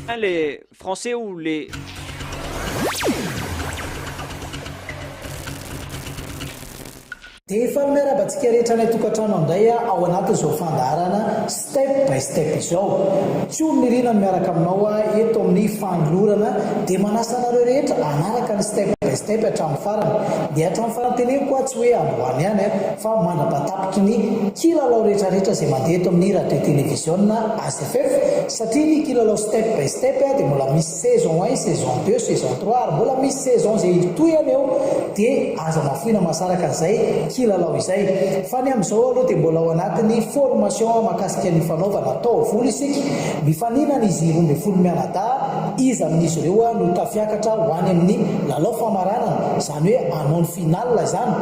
Hein, les Français ou les... Dia fanome arabantsika rehetra any an-tokantrano indray aho ao anatin'izao fandaharana Step by Step izao. Tsiory Nirina no miaraka aminao aho eto amin'ny fanolorana dia manasa anareo rehetra hanaraka ny Step by Step hatramin'ny farany. Dia hatramin'ny fananteneko aho tsy hoe androany ihany fa mandra-pahatany. Tapitry ny kilalao rehetrarehetra izay mandeha eto amin'ny radio televiziona AZFF satria ny kilalao step by step dia mbola misy saison un, saison deux, saison trois ary mbola misy saison izay hitohihana eo dia aza mafoina mahasaraka an'izay kilalao izay fa ny amin'izao aloha dia mbola ao anatin'ny formation mahakasika ny fanaovana taovolo isika mifaninana izy roa ambin'ny folo mianadahy iza amin'izy ireo no tafiakatra ho any amin'ny lalao famaranana izany hoe hanao ny finale izany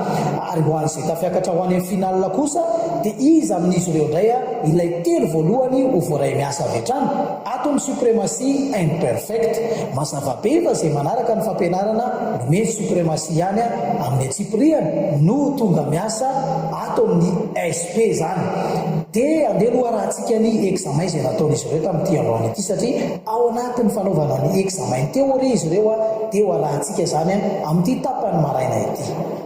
Ary ho an'izay tafiakatra ho any amin'ny finale kosa dia iza amin'izy ireo indray ilay telo voalohany ho voaray miasa avy hatrany? Ato ny supremacy and perfect. Mazava be fa izay manaraka ny fampianarana nomeny supremacy ihany amin'ny antsipiriany no ho tonga miasa ato amin'ny esp izany. Dia andeha loharahantsika ny examen izay nataon'izy ireo tamin'ity androany ity satria ao anatin'ny fanaovana ny examen ny théorie izy ireo dia ho arahantsika izany amin'ity tapany maraina ity.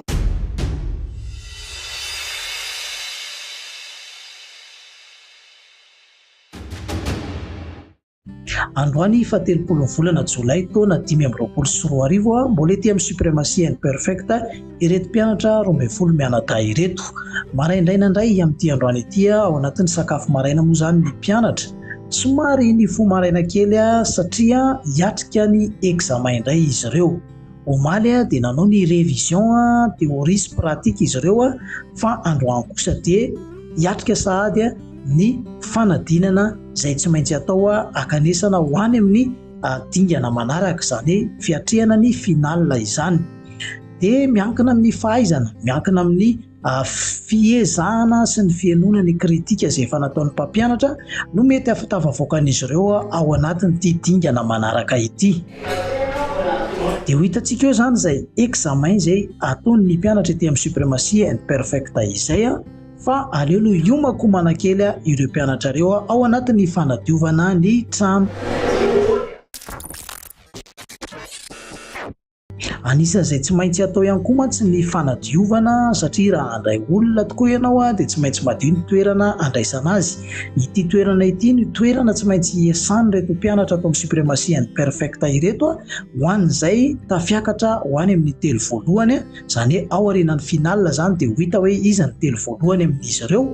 Androany faha telopolo ny volana jolay taona dimy amby roapolo sy roa arivo, mbola ety amin'ny Supremacy and Perfect ireto mpianatra roa ambin'ny folo mianadahy ireto. Maraindraina indray amin'ity androany ity ao anatin'ny sakafo maraina moa izany ny mpianatra. Somary nifoha maraina kely satria hiatrika ny examen indray izy ireo. Omaly dia nanao ny révision théorie sy pratique izy ireo fa androany kosa dia hiatrika sahady ny fanadinana izay tsy maintsy atao akanesana ho any amin'ny dingana manaraka, izany hoe fiatrehana ny finale izany. Dia miankina amin'ny fahaizana, miankina amin'ny Fiezahana sy ny fihenona ny kritika izay efa nataon'ny mpampianatra no mety hahatafavoakan'izy ireo ao anatin'ity dingana manaraka ity. Dia ho hitantsika eo izany izay examen izay ataon'ny mpianatra ety amin'ny Supremacy and Perfect izay fa aleo aloha hiomako manakely ireo mpianatra ireo ao anatin'ny fanadiovana ny trano. Anisan'izay tsy maintsy atao ihany koa mantsy ny fanadiovana satria raha handray olona tokoa ianao dia tsy maintsy madio ny toerana handraisana azy. Ity toerana ity no toerana tsy maintsy hiasan'ireto mpianatra ato amin'ny Supremacy and Perfecta ireto ho an'izay tafiakatra ho any amin'ny telo voalohany, izany hoe ao aorianan'ny finale izany dia ho hita hoe iza ny telo voalohany amin'izy ireo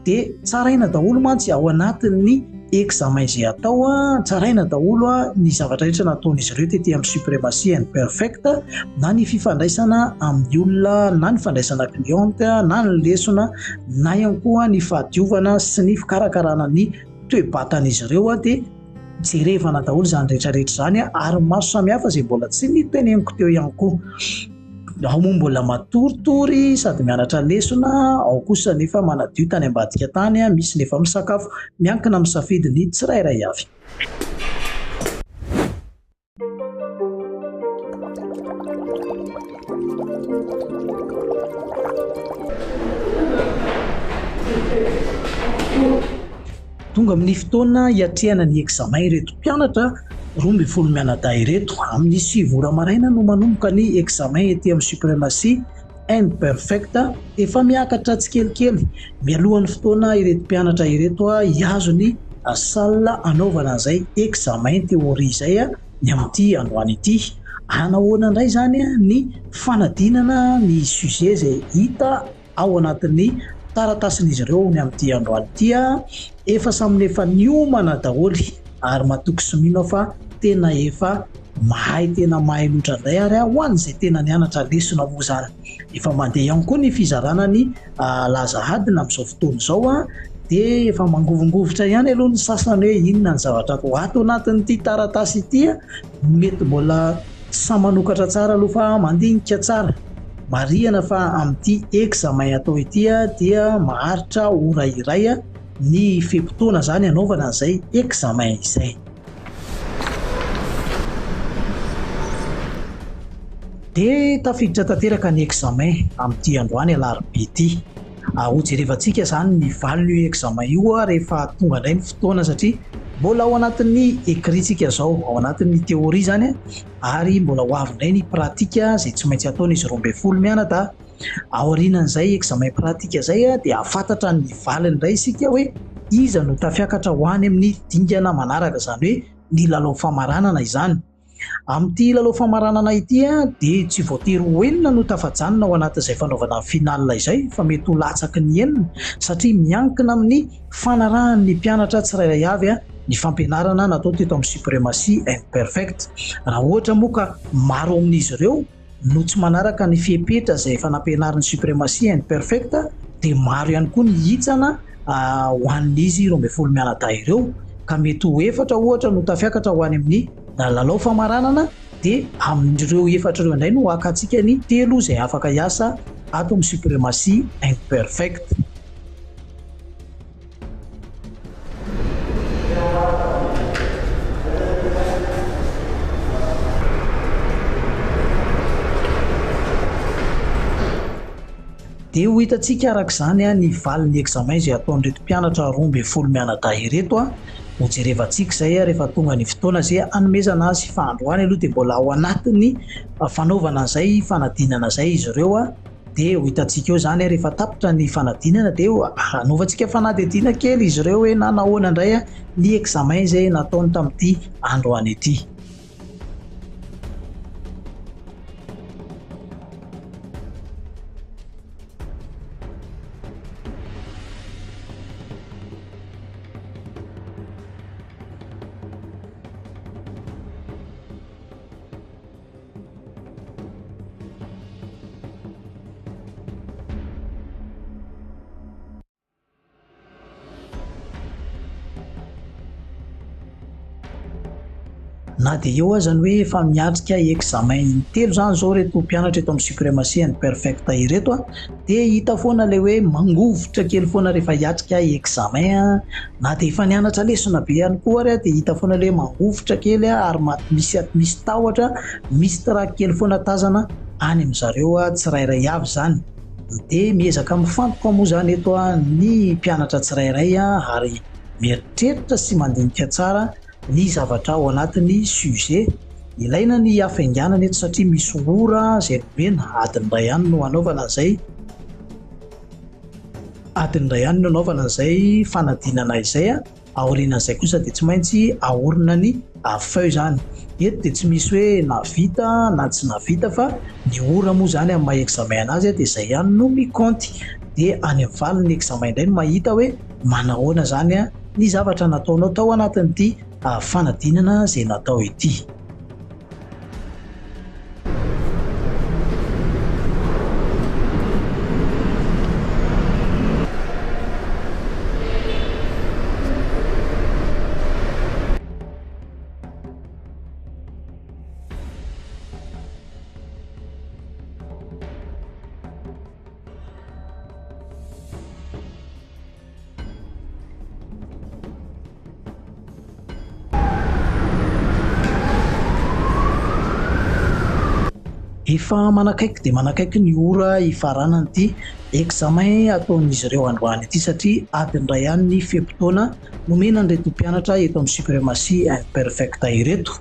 dia tsaraina daholo mantsy ao anatin'ny examen izay atao a, tsaraina daholo a ny zavatra rehetra nataon'izy ireo tety amin'ny supremacy and perfect na ny fifandraisana amin'ny olona na ny fandraisana cliente na ny lesona na ihany koa ny fahadiovana sy ny fikarakarana ny toe-batan'izy ireo a dia jerevana daholo izany rehetra rehetra izany a ary maro samihafa izay mbola tsy niteneniko teo ihany koa Ao moa mbola matoritory sady mianatra lesona, ao kosa nefa manadio tany ambadika tany, misy nefa misakafo. Miankina amin'ny safidin'ny tsirairay avy. Tonga amin'ny fotoana hiatrehana ny examen ireto mpianatra roa ambin'ny folo mianadahy ireto. Amin'ny sivy ora maraina no manomboka ny examen ety amin'ny Supremacy and Perfect. Efa miakatra tsikelikely mialohan'ny fotoana ireto mpianatra ireto hihazo ny salle hanaovana an'izay examen théorie izay ny amin'ity androany ity. Hanahoana indray izany ny fanadinana ny sujet izay hita Ao anatin'ny taratasin'izy ireo ny amin'ity androany ity aho, efa samy efa niomana daholo ary matoky sy mino aho fa tena efa mahay tena mahay loatra indray ary aho an izay tena nianatra lesona moa izany. Efa mandeha ihany koa ny fizarana ny laza adina amin'izao fotoana izao an, dia efa mangovingovitra ihany aloha ny sasany hoe inona ny zavatra ato anatin'ity taratasy ity an. Mety mbola tsy sahy manokatra tsara aloha fa mandinika tsara. Marihana fa amin'ity examen atao ity dia maharitra ora iray ny fe-potoana izany hanaovana an'izay examen izay. Dia tafiditra tanteraka ny examen amin'ity androany alarobia ity. ary ho jerevantsika izany ny valin'io examen io rehefa tonga indray ny fotoana satria mbola ao anatin'ny ecrit-tsika izao, ao anatin'ny théorie izany ary mbola ho avy indray ny pratique izay tsy maintsy ataon'izy roa ambin'ny folo mianadahy. Aorianan'izay examen pratique izay dia hahafantatra ny valiny indray isika hoe iza no tafiakatra ho any amin'ny dingana manaraka, izany hoe ny lalao famaranana izany. Amin'ity lalao famaranana ity dia tsy voatery ho enina no tafajanona ao anatin'izay fanaovana ny finale izay fa mety ho latsaky ny enina satria miankina amin'ny fanarahan'ny mpianatra tsirairay avy ny fampianarana natao teto amin'ny Supremacy and Perfect. Raha ohatra moa ka maro ao amin'izy ireo no tsy manaraka ny fepetra izay efa nampianarin'ny Supremacy and Perfect dia maro ihany koa ny hitsana ho an'izy roa ambin'ny folo mianadahy ireo ka mety ho efatra ohatra no tafiakatra ho any amin'ny lalao famaranana dia amin'ireo efatra ireo indray no hakatsika ny telo izay afaka hiasa ato amin'ny Supremacy and Perfect. Dia ho hitantsika araka izany ny valin'ny examen izay ataon'ireto mpianatra roa ambin'ny folo mianadahy ireto. Ho jerevantsika izay rehefa tonga ny fotoana izay hanomezana azy fa androany aloha dia mbola ao anatin'ny fanaovana izay fanadinana izay izy ireo. dia ho hitantsika eo izany rehefa tapitra ny fanadinana dia hanaovantsika fanadihadiana kely izy ireo hoe na nahoana indray ny examen izay nataony tamin'ity androany ity. Na dia eo aza ny hoe efa miatrika examen intelo izany izao ireto mpianatra eto amin'ny Supremacy and Perfecta ireto, dia hita foana ilay hoe mangovitra kely foana rehefa hiatrika examen an, na dia efa nianatra lesona be ihany koa ary aho dia hita foana ilay hoe mangovitra kely an, ary misy misy tahotra, misy trac kely foana tazana any amin-dry zareo tsirairay avy izany, dia miezaka mifantoka moa izany eto ny mpianatra tsirairay ary mieritreritra sy mandinika tsara. ny zavatra ao anatin'ny sujet. Ilaina ny hafainganana eto satria misy ora izay nomena, adiny iray ihany no hanaovana an'izay, adiny iray ihany no hanaovana an'izay fanadinana izay, aorianan'izay kosa dia tsy maintsy aorina ny feu izany. Eto dia tsy misy hoe navita na tsy navita fa ny ora moa izany amin'ny maha examen an'azy dia izay ihany no mi-compte. Dia any amin'ny valin'ny examen indray no mahita hoe. manahoana izany ny zavatra nataonao tao anatin'ity fanadinana izay natao ity. Efa manakaiky dia manakaiky ny ora hifaranan'ity examen ataon'izy ireo androany ity satria adiny iray ihany ny fe-potoana nomena an'ireto mpianatra eto amin'ny Supremacy Imperfecta ireto.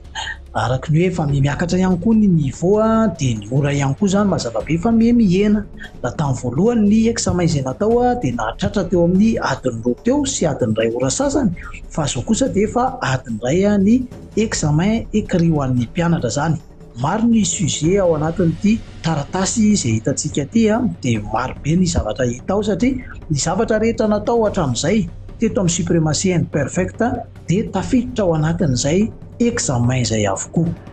araka ny hoe efa miha miakatra ihany koa ny niveau dia ny ora ihany koa izany mazava be fa miha mihena raha tamin'ny voalohany ny examen izay natao dia nahatratra teo amin'ny adiny roa teo sy adiny iray ora sasany fa izao kosa dia efa adiny iray ny examen écrit ho an'ny mpianatra izany maro ny sujet ao anatin'ity taratasy izay hitantsika ity dia maro be ny zavatra hita ao satria ny zavatra rehetra natao hatramin'izay teto amin'ny supremacy and perfect dia tafiditra ao anatin'izay examen izay avokoa.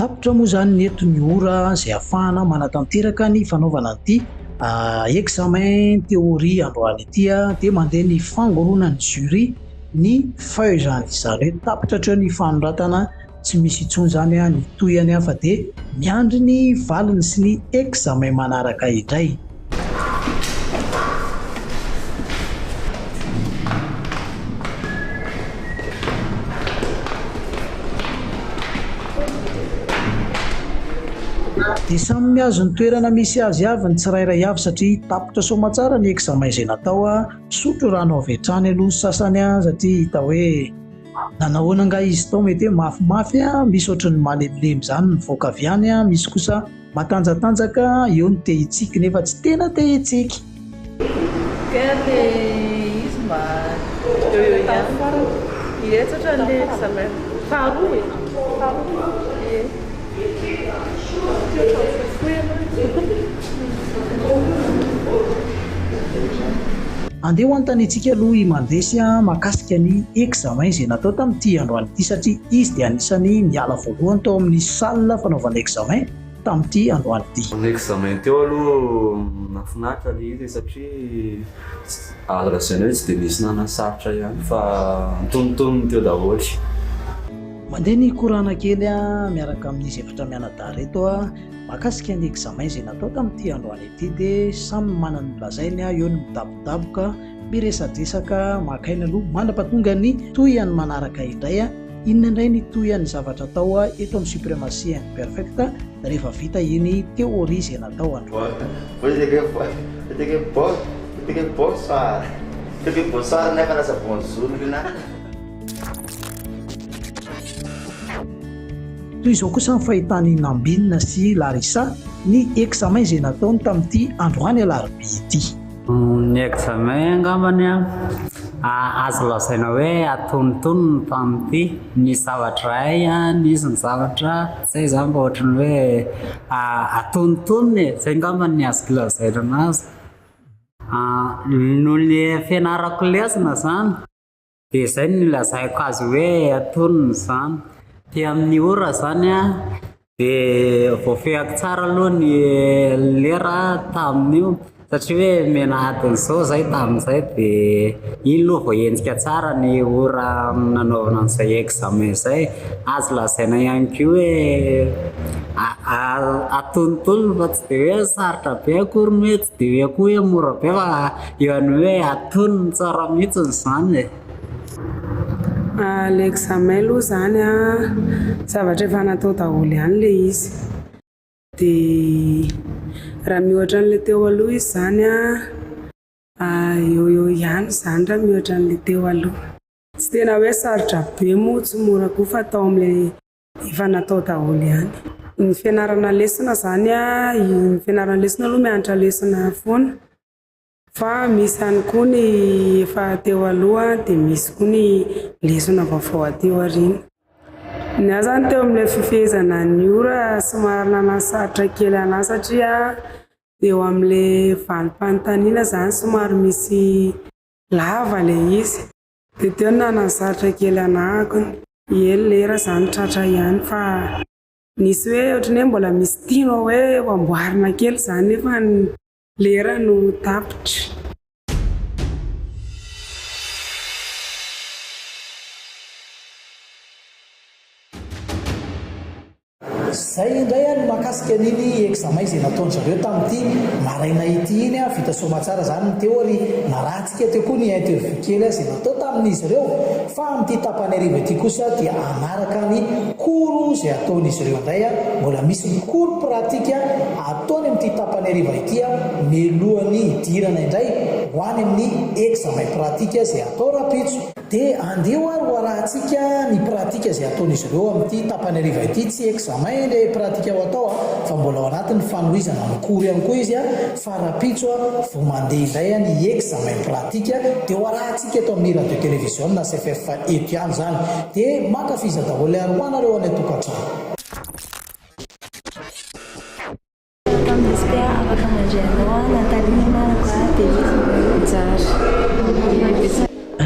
Tapitra moa izany ny eto ny ora izay hahafahana manatanteraka ny fanaovana an'ity examen théorie androany ity dia mandeha ny fangoronan'ny jury ny feuille izany. Izany hoe tapitra hatreo ny fanoratana, tsy misy intsony izany ny tohiny fa dia miandry ny valiny sy ny examen manaraka indray. dia samy mihazo ny toerana misy azy avy ny tsirairay avy satria tapitra soamatsara ny examen izay natao a, misotro rano avy hatrany aloha ny sasany a, satria hita hoe nanahoana angaha izy tao mety hoe mafimafy a, misy ohatran'ny malemilemy izany mivoaka avy any a, misy kosa. Matanjatanjaka eo ny te hitsiky nefa tsy tena te hitsiky. Dia le izy mba eo eo ihany fa hihetsatra le examen faharoa e! Faharoa? Ie. Tsy ohatran'ny fohifohy ianao e! Andeha ho anontaniantsika aloha i Mandresy mahakasika ny examen izay natao tamin'ity androany ity. ity satria izy dia anisan'ny niala voalohany tao amin'ny salle fanaovana examen tamin'ity androany ity. Tamin'ny examen teo aloha nahafinaritra ilay izy e, satria à la jeunesse dia nisy nanasarotra ihany fa antonontonony teo daholo. Mandeha ny korana kely miaraka amin'izy efatra mianadahy ireto mahakasika ny examen izay natao tamin'ity androany ity dia samy manana ny lazainy, eo ny midabodaboka. Miresadresaka maka aina aloha. Mandrapatonga ny tohihany manaraka indray a! Inona indray ny tohihan'ny zavatra atao eto amin'ny supremacy imperfect rehefa vita iny theorie izay natao an-dry. Toy izao kosa ny fahitan'i Nambinina sy Larissa ny examen izay nataony tamin'ity androany alarobia ity. Ny examen angambany an, ah, azo lazaina hoe atonontonony ny tamin'ny ity, nisy zavatra hay an, nisy ny zavatra zay izany mba ohatran'ny hoe ah, atonontonony e, zay angambany ny azoko lazaina an'azy, ah, noho ny fianarako lesona izany. Dia izay no nilazako azy hoe antonony izany. Aty amin'ny ora izany an, dia voafehiko tsara aloha ny lera tamin'io, satria hoe menadin'izao izay tamin'izay dia iny aloha vao hentitra tsara ny ora nanaovana an'izay examen izay. Azo lazaina ihany koa hoe atonontonony fa tsy dia hoe sarotra be akory, tsy dia hoe koa hoe mora be fa. Iany hoe atonony tsara mihitsiny izany e! Ilay examen aloha izany an, zavatra efa natao daholo ihany ilay izy. Dia raha miohatra an'ilay teo aloha izy izany an, eo ho eo ihany izany raha miohatra an'ilay teo aloha. Tsy tena hoe sarotra be moa, tsy mora koa fa atao amin'ilay efa natao daholo ihany. Ny fianarana lesona izany an, ny fianarana lesona aloha mianatra lesona foana. Fa misy ihany koa ny efa teo aloha dia misy koa ny lesona vaovao aty aoriana. Ny ahy izany teo amin'ilay fifehezana ny ora somary nanasarotra kely an'ahy satria eo amin'ilay valim-panontaniana izany somary misy lava ilay izy. Dia teo no nanasarotra kely an'ahy. Ie ny lera izany tratra ihany fa nisy hoe ohatran'ny hoe mbola misy tianao hoe ho amboarina kely izany nefa ny Lera no tapitra. Zay indray any mahakasika an'iny examen izay nataon-dry zareo tamin'ity maraina ity iny an, vita soamatsara izany ny théorie, narahantsika teo koa ny interview kely an izay natao tamin'izy ireo, fa amin'ity tapany hariva ity kosa dia hanaraka ny cours izay ataon'izy ireo indray an, mbola misy ny cours pratique Ataony amin'ity tapany hariva ity mialohan'ny hidirana indray ho any amin'ny examen pratique izay hatao rahampitso. Dia andeho ary ho arahantsika ny pratique izay hataon'izy ireo amin'ity tapany hariva ity, tsy examen ilay pratique ho atao fa mbola ao anatin'ny fanohizana amin'ny cours ihany koa izy fa rahampitso vao mandeha indray ny examen pratique dia ho arahantsika eto amin'ny radio televiziona CFF eto ihany izany. Dia mankafiza daholo ary ho anareo any an-tokantrano.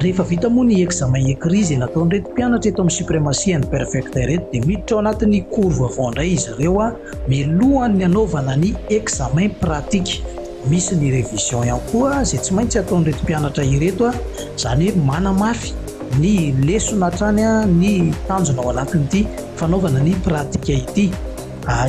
Rehefa vita moa ny examen écrit izay nataon'ireto mpianatra eto amin'ny Supremacy and Perfecta ireto dia miditra ao anatin'ny cours vaovao indray izy ireo mialohan'ny hanaovana ny examen pratique. Misy ny révision ihany koa izay tsy maintsy ataon'ireto mpianatra ireto, izany hoe manamafy ny lesona hatrany ny tanjona ao anatin'ity. fanaovana ny pratika ity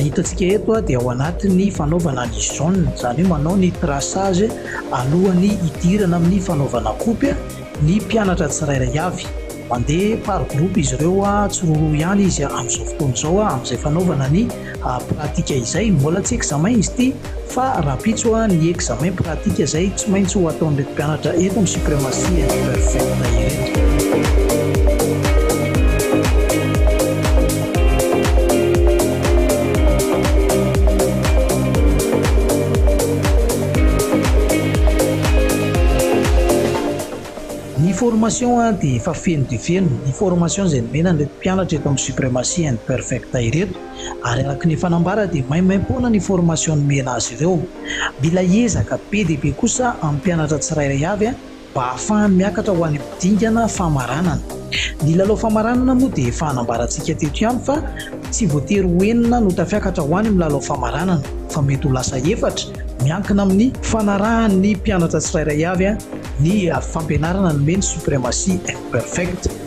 hitantsika eto dia ao anatin'ny fanaovana ny zone izany hoe manao ny traçage alohan'ny hidirana amin'ny fanaovana kopy ny mpianatra tsirairay avy mandeha par groupe izy ireo a tsiroroa ihany izy amin'izao fotoana izao a amin'izay fanaovana ny pratika izay mbola tsy examen izy ity Fa rahampitso a ny examen pratique zay tsy maintsy ho ataon'ireto mpianatra eto ny supremacy imperfect ireto. Ny formation a dia efa feno dia feno, ny formation izay nomena an'ireto mpianatra eto amin'ny supremacy imperfect ireto. ary araka ny efa nambara dia maimaimpoana ny formation nomena azy ireo. Mila ezaka be dia be kosa amin'ny mpianatra tsirairay avy mba hahafahany miakatra ho any amin'ny dingana famaranana. Ny lalao famaranana moa dia efa nambarantsika teto ihany fa tsy voatery ho enina no tafiakatra ho any amin'ny lalao famaranana fa mety ho lasa efatra, miankina amin'ny. Fanarahan'ny mpianatra tsirairay avy ny fampianarana nomeny Supremacy Imperfect.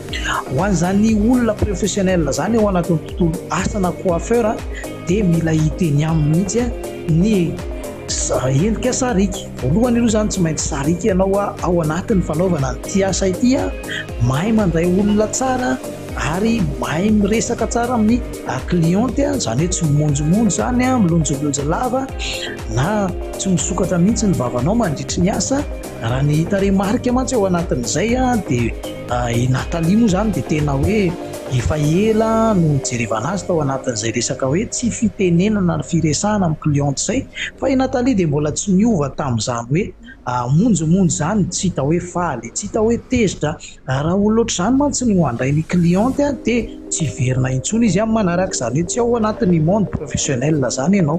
Ho an'izany olona professionnel zany ao anatin'ny tontolo asa na coiffeur dia mila hiteny aminy mihitsy ny endrika sariaka. Voalohany aloha zany tsy maintsy sariaka ianao ao anatin'ny fanaovana an'ity asa ity, mahay mandray olona tsara ary mahay miresaka tsara amin'ny cliente, izany hoe tsy mimonjomonjo zany, milonjolonjo lava na tsy misokatra mihitsy ny vavanao mandritry ny asa. Raha ny hita remarque mantsy ao anatin'izay dia i Nathalie moa izany dia tena hoe efa ela no nijerevana azy tao anatin'izay resaka hoe tsy fitenenana ny firesahana amin'ny cliente izay fa i Nathalie dia mbola tsy niova tamin'izany hoe hamonjimonjy izany tsy hita hoe faly, tsy hita hoe tezitra. Raha olona ohatr'izany mantsy no handray ny cliente dia tsy hiverina intsony izy amin'ny manaraka, izany hoe tsy ao anatin'ny monde professionnel izany ianao.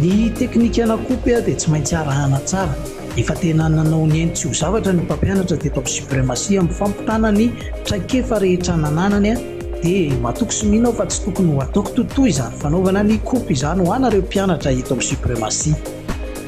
Ny teknika na coupe dia tsy maintsy arahana tsara. Efa tena nanao ny ainy tsy ho zavatra ny mpampianatra teto amin'ny Supremacy amin'ny fampitana ny traikefa rehetra nananany dia matoky sy mino aho fa tsy tokony ho ataoko totoa izany fanaovana ny coupe izany ho anareo mpianatra eto amin'ny Supremacy.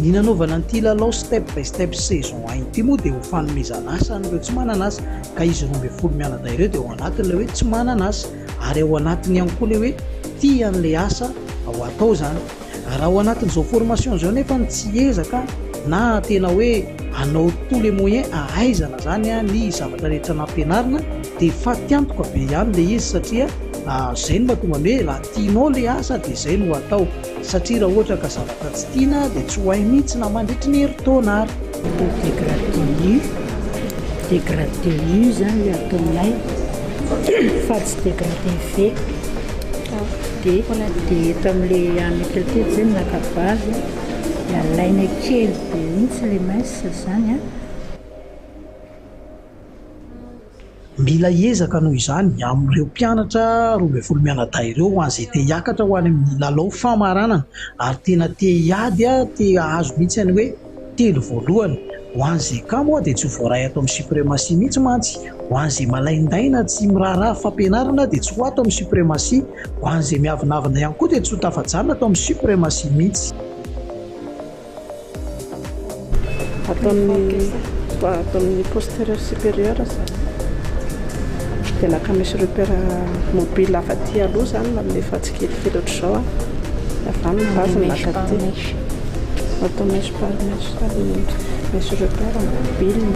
Ny nanaovana an'ity lalao step by step saison un ity moa dia ho fanomezana asa an'ireo tsy manana asa ka izy roa ambin'ny folo mianadahy ireo dia ao anatin'ilay hoe tsy manana asa ary ao anatiny ihany koa ilay hoe tia an'ilay asa ao atao izany. Raha ao anatin'izao formation izao nefa ny tsy ezaka na tena hoe anao tout les moyens ahaizana izany ny zavatra rehetra nampianarina dia fatiantoka be ihany ilay izy satria izay no mahatonga an'io hoe Tianao le asa de zay no atao satria ra ohatra ka zavatra tsy tiana de tsy ho hay mintsy na mandritry ny herintaona ary. Atao degradé nu, degradé nu zany le ataonay fa tsy degradé ve de de eto amle an'ny tratety zay naka base de alaina kely be mintsy le mince zany an. Mila ezaka noho izany amin'ireo mpianatra roa ambin'ny folo mianadahy ireo ho an'izay te hiakatra ho any amin'ny lalao famaranana ary tena te hiady te hahazo mihitsy ny hoe telo voalohany. Ho an'izay cas moa dia tsy ho voaray ato amin'ny suprematie mihitsy mantsy. Ho an'izay malaindaina tsy miraharaha fampianarana dia tsy ho ato amin'ny suprematie. Ho an'izay miavonavona ihany koa dia tsy ho tafajanona ato amin'ny suprematie mihitsy. Ato amin'ny ato amin'ny posterieur supérieur izany dia naka misy repère mobile avy aty aloha izany namefa tsikelikely ohatr'izao a dia avy any ny base naka aty ato amin'ny mèche par mèche sady misy repère mobile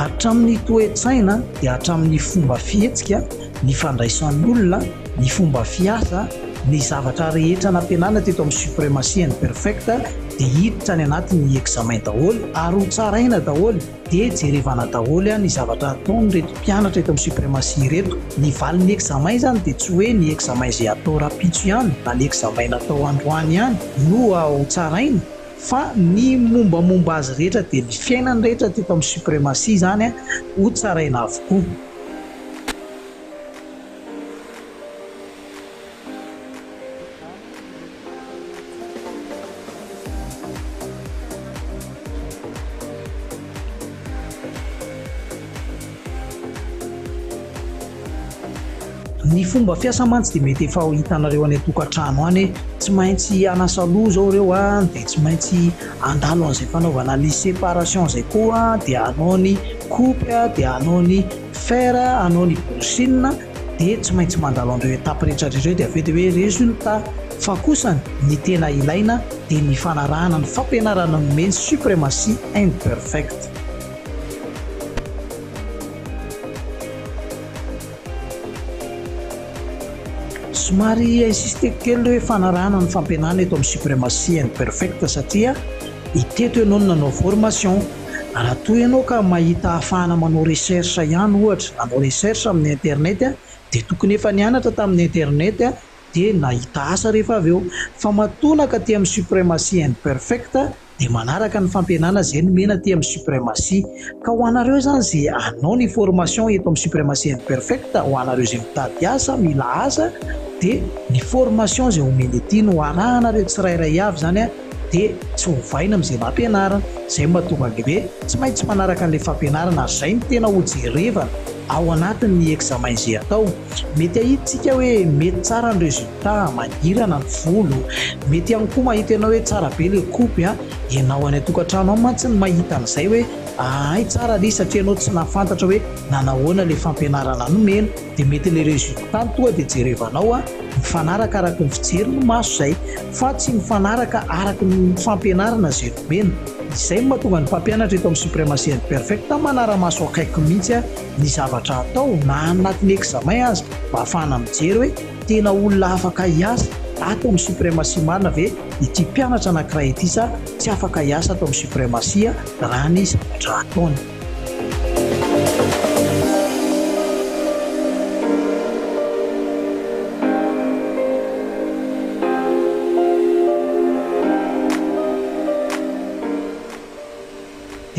hatramin'ny toe-tsaina dia hatramin'ny fomba fihetsika ny fandraisan'olona, ny fomba fiasa, ny zavatra rehetra nampianarina teto amin'ny Supremacy and Perfect dia hiditra any anatin'ny examen daholo ary ho tsaraina daholo dia jerevana daholo ny zavatra ataon'ireto mpianatra eto amin'ny Supremacy ireto. Ny valin'ny examen izany dia tsy hoe ny examen izay atao rahampitso ihany na ny examen natao androany ihany no ho tsaraina fa ny mombamomba azy rehetra dia ny fiainany rehetra teto amin'ny Supremacy izany ho tsaraina avokoa. Ny fomba fiasa mantsy dia mety efa hitanareo any an-tokantrano any hoe tsy maintsy hanasa loha izao ireo any dia tsy maintsy handalo an'izay fanaovana ny séparation izay koa dia hanao ny coupe dia hanao ny fer anao ny bouchine dia tsy maintsy mandalo an'ireo étape rehetra ireo dia avy eo dia hoe resultat fa kosa ny tena ilaina dia ny fanarahana ny fampianarana nomeny ny supremacy and perfect somary insisteko kely le hoe fanarahana ny fampianana eto amin'ny supremacy and perfect satria iteto ianao no nanao formation Raha toa ianao ka mahita ahafahana manao recherche ihany ohatra, nanao recherche amin'ny internet dia tokony efa nianatra tamin'ny internet dia nahita asa rehefa avy eo. Fa matoa nankaty amin'ny supremacy and perfect dia manaraka ny fampianana izay nomena aty amin'ny supremacy. Ka ho anareo izany izay hanao ny formation eto amin'ny supremacy and perfect, ho anareo izay mitady asa, mila asa, dia ny formation izay omeny aty no arahanareo tsirairay avy izany. dia tsy ovaina amin'izay nampianarina, izay no mahatonga an'ilay hoe tsy maintsy manaraka an'ilay fampianarana ary izay no tena hojerevana ao anatin'ny examen izay atao. Mety hahitsika hoe mety tsara ny résultat, mangirana ny volo, mety ihany koa mahita ianao hoe tsara be ilay coupe an, ianao any an-tokantrano any mantsy no mahita an'izay hoe ahay tsara ry satria ianao tsy nahafantatra hoe nanahoana ilay fampianarana nomena. de mety le resultat toa de jerevanao a mifanaraka araky ny fijery ny maso zay fa tsy mifanaraka araky ny fampianarana zay nomena, izay no mahatonga ny mpampianatra eto amin'ny Supremacy and Perfecta manara-maso akaiky mihitsy a ny zavatra atao na any anatin'ny examen aza mba afahana mijery hoe tena olona afaka hiasa ato amin'ny Supremacy marina ve ity mpianatra anakiray ity sa tsy afaka hiasa ato amin'ny Supremacy raha ny zavatra ataony.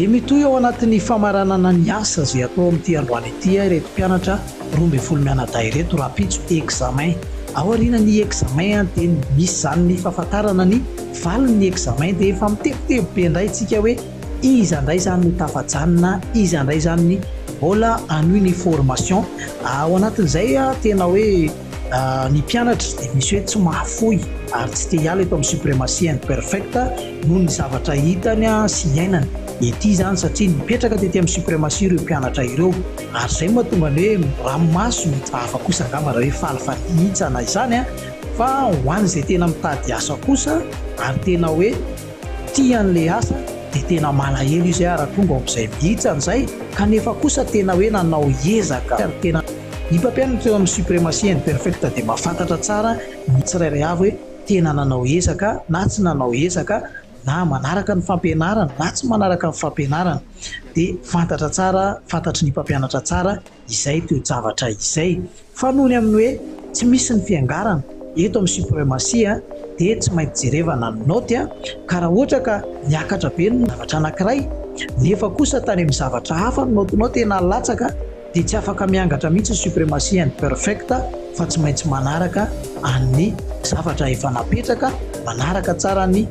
Dia mitohy ao anatin'ny famaranana ny asa izay atao amin'ity androany ity ireto mpianatra roa ambin'ny folo mianadahy ireto rahampitso examen. Ao aorianan'ny examen dia misy izany ny fahafantarana ny valin'ny examen dia efa mitebiteby be indray isika hoe Iza ndray zany no tafajanona, iza ndray zany ny mbola hanohy ny formation, ao anatin'izay tena hoe ny mpianatra dia misy hoe tsy mahafoy ary tsy te hiala eto amin'ny supremacy and perfect noho ny zavatra hitany sy iainany ety zany satria nipetraka tety amin'ny supremacy ireo mpianatra ireo ary zay no mahatonga ny hoe ranomaso mety vava kosa angamba raha hoe faly fanitsana izany fa ho an'izay tena mitady asa kosa ary tena hoe Tia an'ilay asa dia tena malahelo izy ary tonga ao amin'izay mihitsy any izay kanefa kosa tena hoe nanao ezaka ary tena. Ny mpampianatra teo amin'ny Supremacy and Perfect dia mahafantatra tsara ny tsirairay avy hoe tena nanao ezaka na tsy nanao ezaka na manaraka ny fampianarana na tsy manaraka ny fampianarana dia fantatra tsara, fantatry ny mpampianatra tsara. izay toe-javatra izay fa noho ny amin'ny hoe tsy misy ny fiangarana eto amin'ny supremacia dia tsy maintsy jerevana ny naoty ka raha ohatra ka niakatra be ny zavatra anankiray nefa kosa tany amin'ny zavatra hafa ny naotinao tena latsaka dia tsy afaka miangatra mihitsy ny supremacia and perfect fa tsy maintsy manaraka an'ny zavatra efa napetraka manaraka tsara ny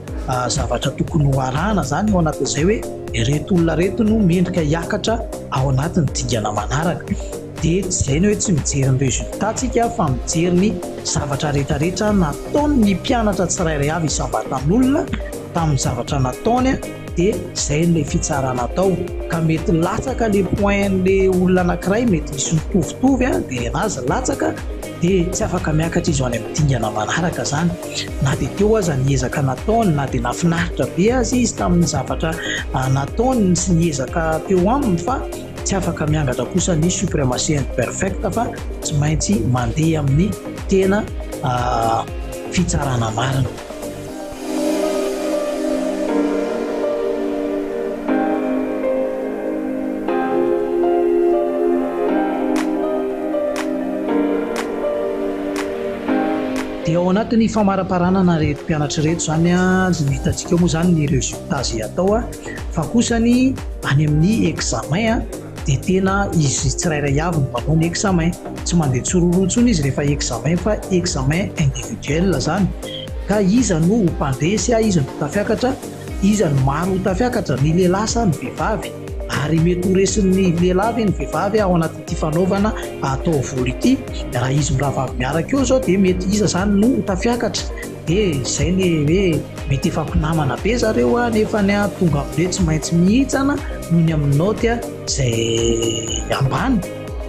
zavatra tokony ho arahana izany ao anatin'izay hoe Ireto olona ireto no mendrika hiakatra ao anatin'ny dingana manaraka. Dia tsy izay ny hoe tsy mijery ny résultat tsika fa mijery ny zavatra rehetra rehetra nataon'ny mpianatra tsirairay avy isam-batan'olona tamin'ny zavatra nataony dia izay no ilay fitsarana atao. Ka mety latsaka ilay point an'ilay olona anankiray mety misy mitovitovy dia ny an'azy latsaka dia tsy afaka miakatra izy ho any amin'ny dingana manaraka izany. na dia teo aza ny ezaka nataony, na dia nafinaritra be aza izy tamin'ny zavatra ah, nataony sy ny ezaka teo aminy fa tsy afaka miangatra kosa ny supremacy imperfecta fa tsy maintsy mandeha amin'ny tena ah, fitsarana marina. Dia ao anatin'ny famaraparanana ireto mpianatra ireto izany no hitantsika ao moa izany ny résultat izay atao fa kosa ny any amin'ny examen dia tena izy tsirairay avy no manao ny examen. Tsy mandeha tsororo intsony izy rehefa examen fa examen individuel izany ka iza no ho mpandresy, iza no ho tafiakatra, iza no maro ho tafiakatra, ny lehilahy sa ny vehivavy ary mety ho resin'ny lehilahy ve ny vehivavy ao anatin'ny. ity fanaovana taovolo ity raha izy miravavy miaraka eo zao dia mety iza zany no ho tafiakatra dia izay ny hoe mety efa mpinamana be zareo a nefa ny a tonga ambe tsy maintsy mihitsana noho ny amin'ny naoty a zay ambany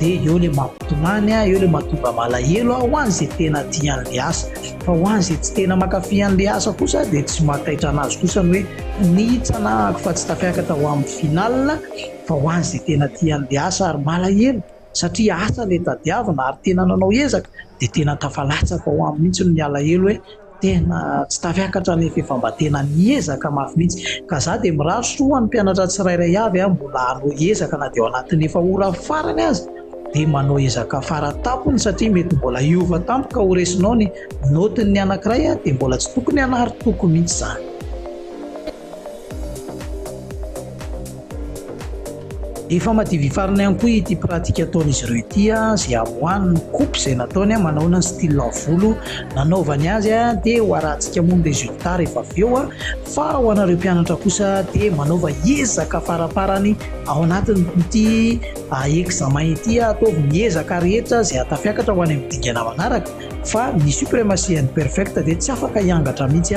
dia eo le mampitomany a eo le matonga malahelo a ho any zay tena tian'le asa fa ho any zay tsy tena mankafy an'le asa kosa dia tsy mahataitra anazy kosa ny hoe nihitsana ako fa tsy tafiakatra ho amin'ny final Fa ho an' izay tena tia an'ilay asa ary malahelo satria asa ilay tadiavina ary tena nanao ezaka dia tena tafalatsaka ao aminy mihitsy ny alahelo hoe tena tsy tafiakatra nefa efa mba tena niezaka mafy mihitsy ka za dia mirary soa ho an'ny mpianatra tsirairay avy a mbola hanao ezaka na dia ao anatin'ny efa ora farany aza dia manao ezaka fara tampony satria mety mbola hiova tampoka ho resinao ny note-n'ny anankiray a dia mbola tsy tokony hanary toko mihitsy izany. Efa madivifarina ihany koa ity pratique ataon'izy ireo ity izay amoahany ny coupe izay nataony manaona ny style volo nanaovany azy dia ho arahantsika moa ny résultat rehefa avy eo fa ho anareo mpianatra kosa dia manaova ezaka faraparany ao anatin'ity examen ity ataovy ny ezaka rehetra izay hatafiakatra ho any amin'ny dingana manaraka fa ny supremacy and perfect dia tsy afaka hiangatra mihitsy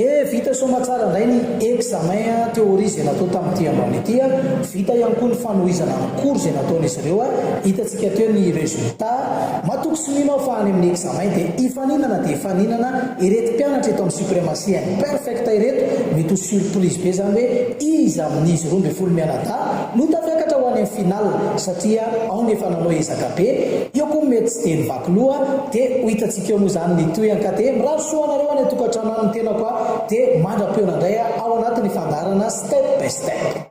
Dia vita soamatsara indray ny examen théorie izay natao tamin'ity ambany ity. Vita ihany koa ny fanohizana ny cours izay nataon'izy ireo. Hitantsika teo ny résultat. Matoky sy mino aho fa any amin'ny examen dia hifaninana dia hifaninana ireto mpianatra eto amin'ny Supremacy Imperfect ireto. Mety ho surprise be izany hoe iza amin'izy roa ambin'ny folo mianadahy. No tafiakatra ho any amin'ny finale satria ao ny efa nanao ezaka be, eo koa mety tsy dia nivaky loha dia ho hitantsika eo moa izany ny tohiny ka dia mirary soa anareo any an-tokantrano any ny tenako a dia mandra-peo nandray ao anatin'ny fandaharana step by step.